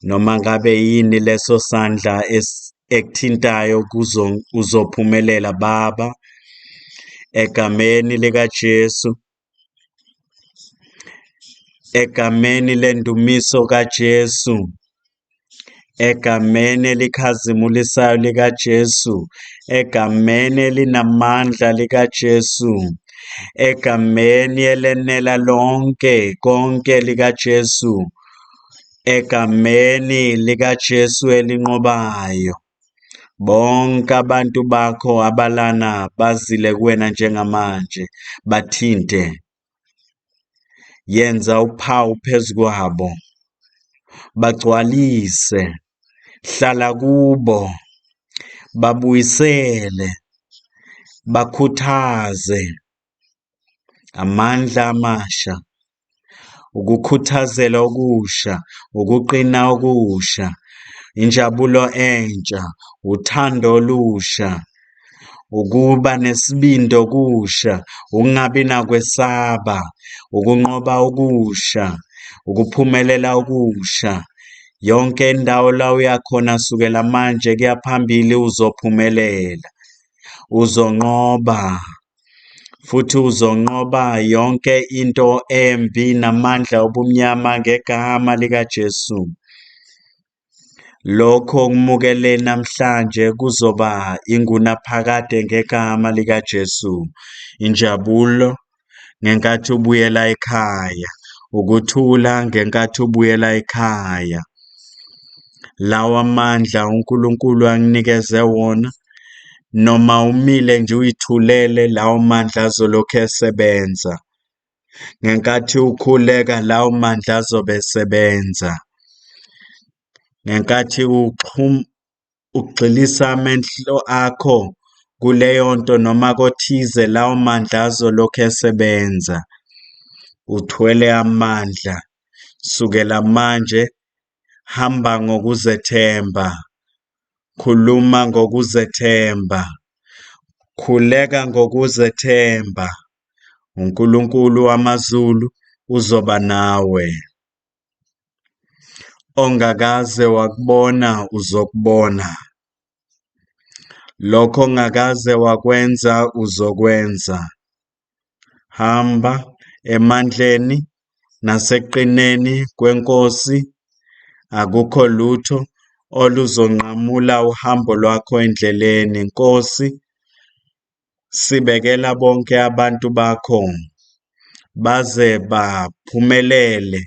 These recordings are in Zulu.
Noma ngabe yini leso sandla ekuthintayo kuzo uzophumelela Baba egameni likaJesu egameni lendumiso kaJesu egameni elikhazimulisayo likaJesu egameni elinamandla likaJesu egameni elenela lonke konke likaJesu eGameni likaJesu elinqobayo. Bonke abantu bakho abalana bazile kuwena njengamanje, bathinte. Yenza uphawu phezu kwabo, bagcwalise, hlala kubo, babuyisele, bakhuthaze, Amandla amasha, ukukhuthazela okusha, ukuqina okusha, injabulo entsha, uthando olusha, ukuba nesibindi okusha, ukungabi nakwesaba, ukunqoba okusha, ukuphumelela okusha. Yonke indawo la uya khona sukela manje kuya phambili uzophumelela, uzonqoba. futhi uzonqoba yonke into embi namandla obumnyama ngegama likaJesu. Lokho okumukele namhlanje kuzoba ingunaphakade ngegama likaJesu. Injabulo ngenkathi ubuyela ekhaya, ukuthula ngenkathi ubuyela ekhaya. lawa mandla uNkulunkulu anginikeze wona, noma umile nje uyithulele, lawo mandla azolokhu esebenza. Ngenkathi ukhuleka, lawo mandla azobe esebenza. Ngenkathi uxhum, ugxilisa amehlo akho kuleyo nto noma kothize, lawo mandla azolokhu esebenza. Uthwele amandla sukela manje Hamba ngokuzethemba. Khuluma ngokuzethemba. Khuleka ngokuzethemba. UNkulunkulu wamazulu uzoba nawe. Ongakaze wakubona uzokubona. Lokho ongakaze wakwenza uzokwenza. Hamba emandleni nasekuqineni kweNkosi, akukho lutho oluzonqamula uhambo lwakho endleleni. Nkosi, sibekela bonke abantu bakho baze baphumelele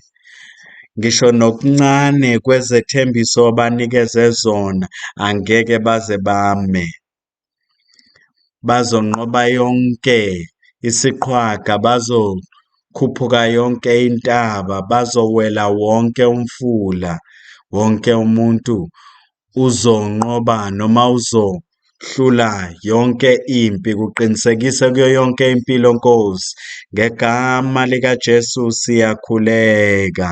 ngisho nokuncane kwezethembiso obanikeze zona, angeke baze bame. Bazonqoba yonke isiqhwaga, bazokhuphuka yonke intaba, bazowela wonke umfula. Wonke umuntu uzonqoba noma uzohlula yonke impi, kuqinisekise kuyo yonke impilo, Nkosi. Ngegama likaJesu siyakhuleka.